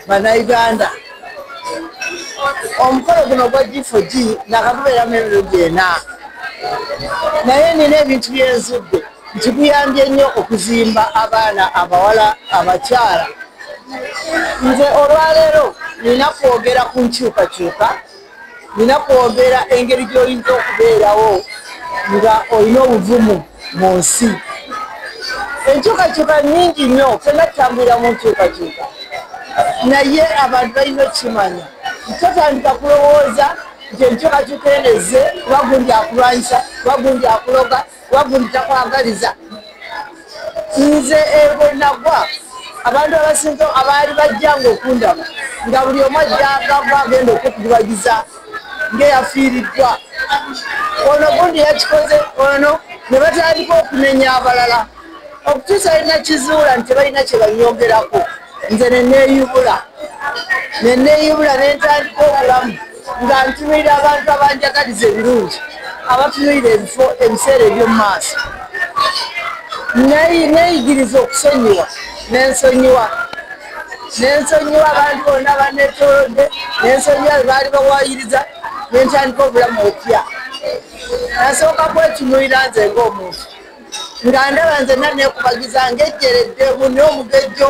banauganda omukolo guno gwa gfog nakatubeera mu emirundi ena naye nina ebintu byenzudde nti guyambye nnyo okuzimba abaana abawala abakyala nze olwaleero nina kwogera ku nkyukakyuka nina kwogera engeri gy'oyinza okubeerawo nga olina obuvumu mu nsi enkyukakyuka nyingi nnyo fena tutambulira mu nkyukakyuka naye abantu balina okukimanya totandika kulowooza nti enkyukakyuka eneze kuba gundi akulwanyisa kuba gundi akuloga wagulu takwagaliza nze ebwenagwa abantu abasinza abaali bajjanga okundaba nga buli omu ajjagava agenda okukubagiza ngaeyafiiriddwa ono gundi yakikoze ono ne batandika okunenya abalala okutuusa alina kizuula nti tebalina kyebanyongerako nze neneeyubula neneeyubula nentandika obulamu nga ntunuulira abantu abanjagaliza ebirungi abatunuulira ebifo ebiseera eby'omu maaso neeyigiriza okusonyiwa nensonyiwa nensonyiwa abantu bonna banetolodde nensonyiwa bebaali bawayiriza nentandika obulamu opya nasooka kwetunuulira nze ngaomuntu nga ndaba nze nanekubagiza ngaejjeredde muni omugejjo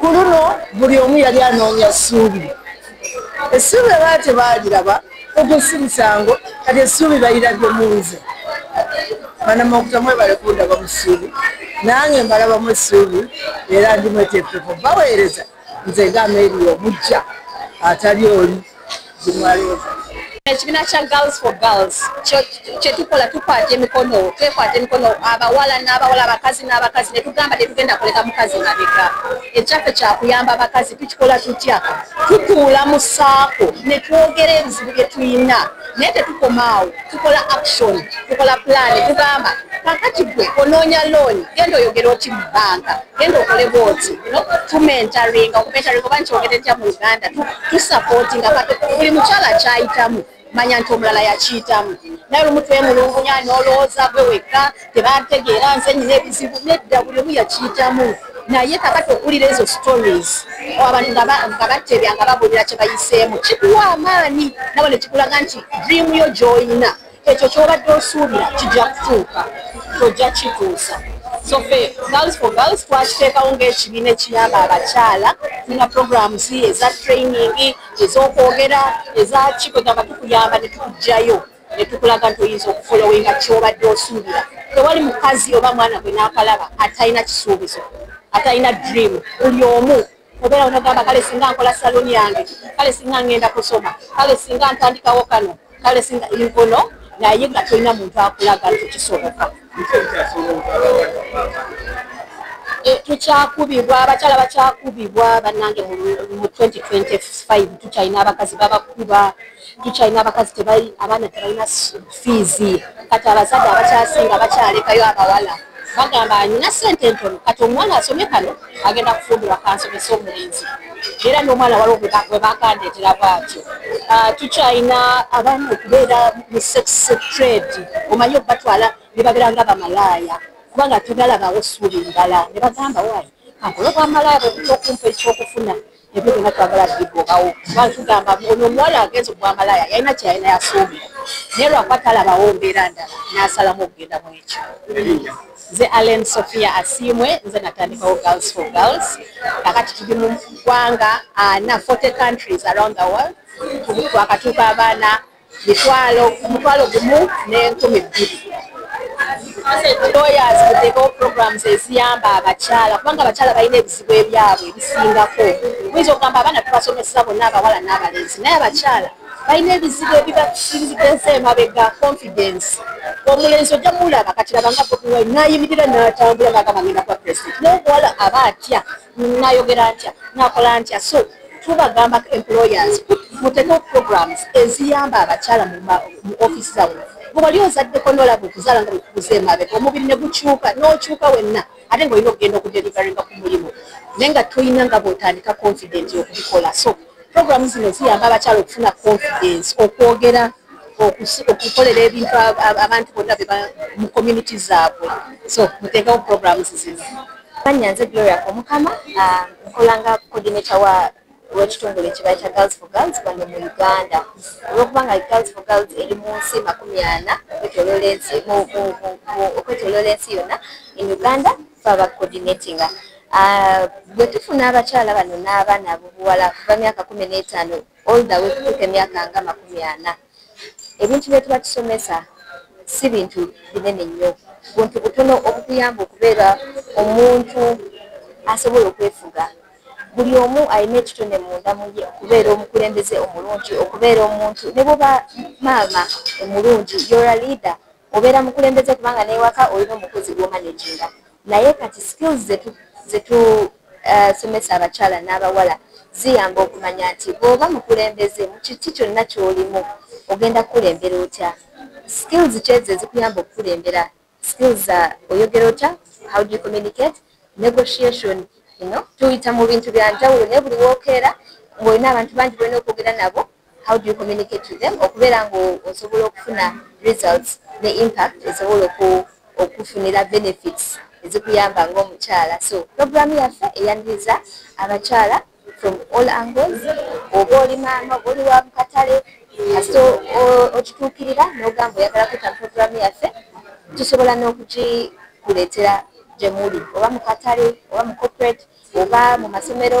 ku luno buli omu yali anoonya essuubi essuubi abaa tebaaliraba okusimusango kati essuubi balirabye mu nze banama okutamwebale kundaba mu ssuubi nange mbalabamu essuubi era ndimweteekeeko baweereza nze nga ameeriyo omujja atali oli ekibiina kya girls for girls kyetukola tukwata emikono twekwata emikono abawala n'abawala abakazi n'abakazi netugamba tetugenda kuleka mukazi mabega ekyaffe kyakuyamba abakazi tukikola tutya tutuula mu saako netwogera ebizibu byetulina naye tetukoma awo tukola action tukola pulaani tugamba kakati gwe onoonya looni genda oyogera oti mu banka genda okole booti tumentaringa okumentaringa oba nkyogere ntya mu uganda tusapootinga buli mukyala kyayitamu manya nti omulala yakiyitamu naye olumu twemulungunya nolowooza gwe wekka tebantegeera nze nyina ebizibu nedda buli omu yakiyitamu naye kakati okuwulira ezo stories abantu nga batebya nga babuulira kye bayiseemu kikuwa amaani nabo ne kikulaga nti dream yo gy'olina ekyo ky'obadde osuubira kijja kutuuka tojja kituusa so fe girls for girls twakiteekawo ng'ekibiina ekiyamba abakyala tulina programs eza training ez'okwogera ezakikwe gamba tukuyamba ne tukugjayo ne tukulaga nti oyinza okufolowinga kyobadde osuubira tewali mukazi oba mwana gwe n'akalaba atalina kisuubizo atalina dream buli omu obeera onogamba kale singa nkola saloni yange kale singa ngenda kusoma kale singa ntandikawo kano kale singa inkono naye nga tolina muntu akulaga nti kisoboka eh, tukyakubibwa abakyala bakyakubibwa banange mu 2025 tukyalina abakazi babakuba tukyalina abakazi tebali abaana tebalina fiizi kati abazadde abakyasinga bakyalekayo abawala bagamba alina sente entono kati omwana asomye kano agenda kufumbirwa kansomesa omulenzi era n'omwana waliwo bwe bakandeetera bwatyo ah, tukyalina abaana okubeera mu sex trade omanyi okubatwala ne babeera nga bamalaaya kubanga tebalabawo suuli ndala ne bagamba wayi akola obwamalaaya bwe butya okumpa ekyokufuna ebyo byona twagala bigobawo kuba tugamba ono omuwala agenza okubamalaya yalina kyeyalina yasoomi naye lwakuba talabawo mbeera ndala nasalamu okugenda mu ekyo nze allen sofia asiimwe nze natandikawo girls for girls kakati tuli mu ggwanga ana ah, 40 countries around the world twakatuuka abaana mitwalo omutwalo gumu n'enkumi bbiri lawyers kuteekawo programs eziyamba abakyala kubanga abakyala balina ebizibu ebyabwe ebisingako muyinza okugamba abaana tubasomesa bonna abawala n'abalenzi naye abakyala balina ebizibu ebibakirizigeza emabega confidence omulenzi ojja mulaba kati labanga bobiwai nayimirira natambula ngagamba ngenda kuba president nokuwala aba atya nayogera ntya nakola ntya so tubagamba employers muteke programs eziyamba abakyala mu office zawe bwewali ozaddeko nolaba okuzaala nga bwekubuza emabega omubiri ne gukyuka nokyuka wenna ate nga olina okugenda okudelivaringa ku mulimu naye nga tolina nga bwotandika confident okubikola so programu zino ziyamba abakyala okufuna confidence okwogera okukolera ebintu abantu bonna beba mu community zaabwe so muteekewo programs zino manya nze gloria omukama ah, nkolanga coordinator wa wekitongole ekibayi kya girls for girls bano mu uganda olwokubanga girls for girls eri mu nsi makumi ana okwetoloola ensi okwetoloola ensi yonna in uganda faba coordinatinga ah, bwe tufuna abakyala bano n'abaana abubuwala kuva myaka kumi n'etaano all the way kutuuka emyaka nga makumi ana ebintu byetuba tusomesa si bintu binene nnyo buntu butono obukuyamba okubeera omuntu asobola okwefuga buli omu alina ekitone munda muye okubeera omukulembeze omulungi okubeera omuntu ne bwoba maama omulungi yora leader obeera mukulembeze kubanga newaka olina omukozi gwomanaginga naye kati skills zetu Eh, somesa abakyala n'abawala ziyamba okumanya nti bw'oba mukulembeze mu kiki kyonna ky'olimu ogenda kukulembera otya skills kyezo ezikuyamba okukulembera skills uh, oyogera otya how do you communicate negotiation you know tuyita mu bintu bya njawulo naye buli wookeera ng'olina abantu bangi bolina okwogera nabo how do you communicate to them okubeera nga osobola okufuna results ne impact esobola okufunira benefits ezikuyamba ngaomukyala so program yaffe eyaniriza abakyala from all angles oba oli maama oba oli wa mukatale kasita okituukirira n'ogamba oyagala kuta program yaffe tusobola n'okugikuleetera gyemuli oba mukatale oba mu corporate oba mu masomero